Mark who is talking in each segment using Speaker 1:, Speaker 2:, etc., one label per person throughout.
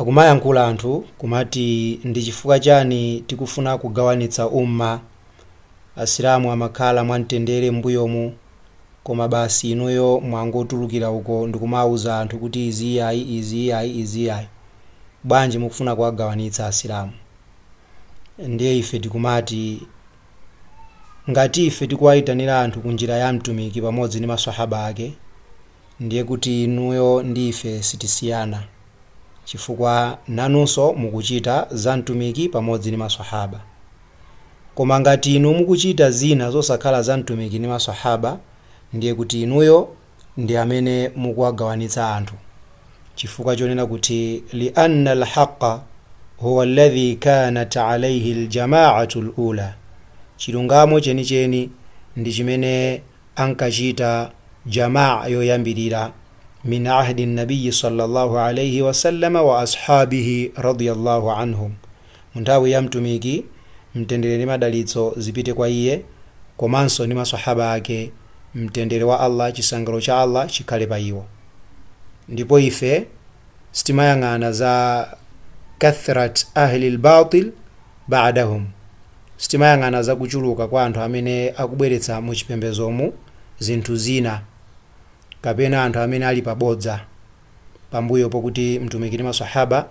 Speaker 1: Akumayankhula anthu kumati ndi chifukwa chani tikufuna kugawanitsa Ummah? Asilamu amakhala mwamtendere m'mbuyomu koma basi inuyo mwangotulukira uko ndikumauza anthu kuti izi iyayi izi iyayi izi iyayi. Bwanji mukufuna kuwagawanitsa Asilamu? Ndiye ife tikumati ngati ife tikuwaitanira anthu ku njira ya Mtumiki pamodzi ndi ma Swahaba ake, Ndiye kuti inuyo ndi ife sitisiyana chifukwa nanunso mukuchita za Mtumiki pamodzi ndi Maswahaaba. Koma ngati inu mukuchita zina zosakhala za Mtumiki ndi Maswahaaba ndiye kuti inuyo ndi amene mukuwagawanitsa anthu chifukwa chonena kuti lianna al-haqqa huwa alladhi kaanat alayhi al-jamaa'atu al-ula, chilungamo chenicheni ndi chimene. ankachita Jamaa yoyambirira min ahdi Nabiyyi sallallâhu alaihi wa sallam wa ashabihi radiyallâhu anhum, mu nthawi ya Mtumiki Mtendere ndi Madalitso zipite kwa iye komanso ndi maswahaba ake Mtendere wa Allah, Chisangalalo cha Allah chikhale pa iwo. Ndipo ife sitimayang'ana za kathrat ahli al-bâtil ba'dahum. Sitimayang'ana za kuchuluka kwa anthu amene akubweretsa mu chipembedzomu zinthu zina, kapena anthu amene ali pa bodza pambuyo pokuti Mtumiki ndi ma Swahaba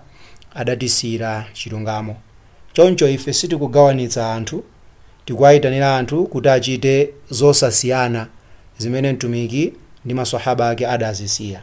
Speaker 1: adatisiyira chilungamo. Choncho ife sitikugawanitsa anthu, tikuwaitanira anthu kuti achite zosasiyana zimene Mtumiki ndi ma Swahaba ake adazisiya.